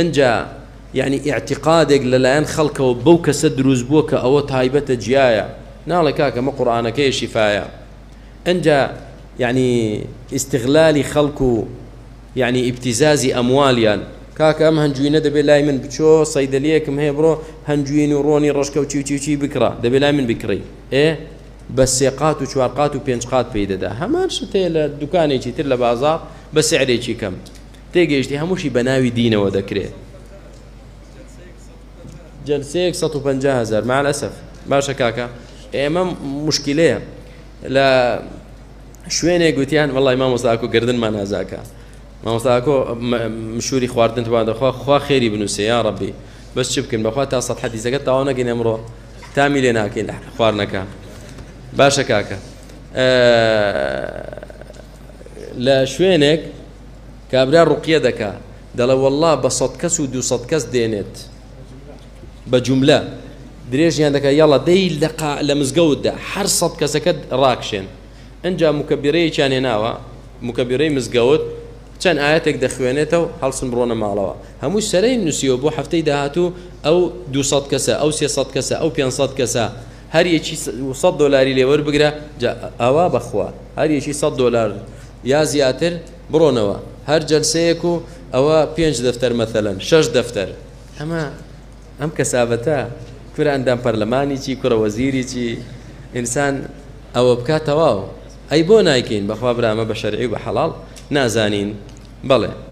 ئنجا یانی ئیعتیقادێک لەلایەن خەڵکەوە بەو کەسە دروست بووە کە ئەوە تایبەتە جیایە ناڵێ کاکە مە قورئانەکەی شیفایە ئنجا یعنی ئیستغلالی خەڵک و یعنی ئیبتیزازی ئەموالیان کاکە ئەم هەنجوینە دەبێت لای من بچۆ سەیدەلیەکم هەیە بڕۆ هەنجوین و ڕۆنی ڕۆژکە و چیوچیوچی بکڕە دەبێت لای من بکڕی ئێ بە سێقات و چوارقات و پێنج قات پێی دەدا هەمان شتەیە لە دوکانێکی تر لە بازار بە سعرێکی کەم تێگەیشتی هەمووشی بە ناوی دینەوە دەکرێ جلسەیەک 150 هزار مع الأسف باشە کاکە ئێمە مشکلەیە لە شوێنێک گوتیان وڵی مامۆستاکو گردن مانازاکە مامۆستاکۆ مشوری خواردن توان دەخوا خوا خێری بنووسێ یا ڕبی بەس چ بکەن بەخوا تا سە حەدیزەکە تاوا نەگەین ئەمڕۆ تامی لێ ناکەین خواردنەکە باشە کاکە لە شوێنێک کابرا ڕوقیە دەکا دەڵێ والله بە سەد کەس و دو سەد کەس دێنێت بە جملە درێژیان دەکە یاڵە دەی لەقا لە مزگەوتدا هەر سەد کەسەکە ڕاکشێن ئەجا مکەبیرەیەکیان هێناوە مکەبیرەی مزگەوت چەند ئاەتێک دەخوێنێتەوە هەڵسن بڕۆنە ماڵەوە هەموو سەرەی نووسیەوە بۆ هەفتەی داهاتوو ئەو دو کەسە ئەو سێ کەسە ئەو پێ کەسە هەر یەکی سەد دۆلاری لێ وەربگرە جا ئەوا بەخوا هەر یەکی سەد دۆلار یا زیاتر بڕۆنەوە هەر جەلسەیەک و ئەوە پێنج دەفتەر مەثەلەن شەش دەفتەر ئەمە ئەم کەسابەتە کورە ئەندام پەرلەمانی چی کوڕە وەزیری چی ئینسان ئەوە بکات تەواو ئەی بۆ نایکەین بەخوا برا ئەمە بە شەرعی و بە حەڵاڵ نازانین بەڵێ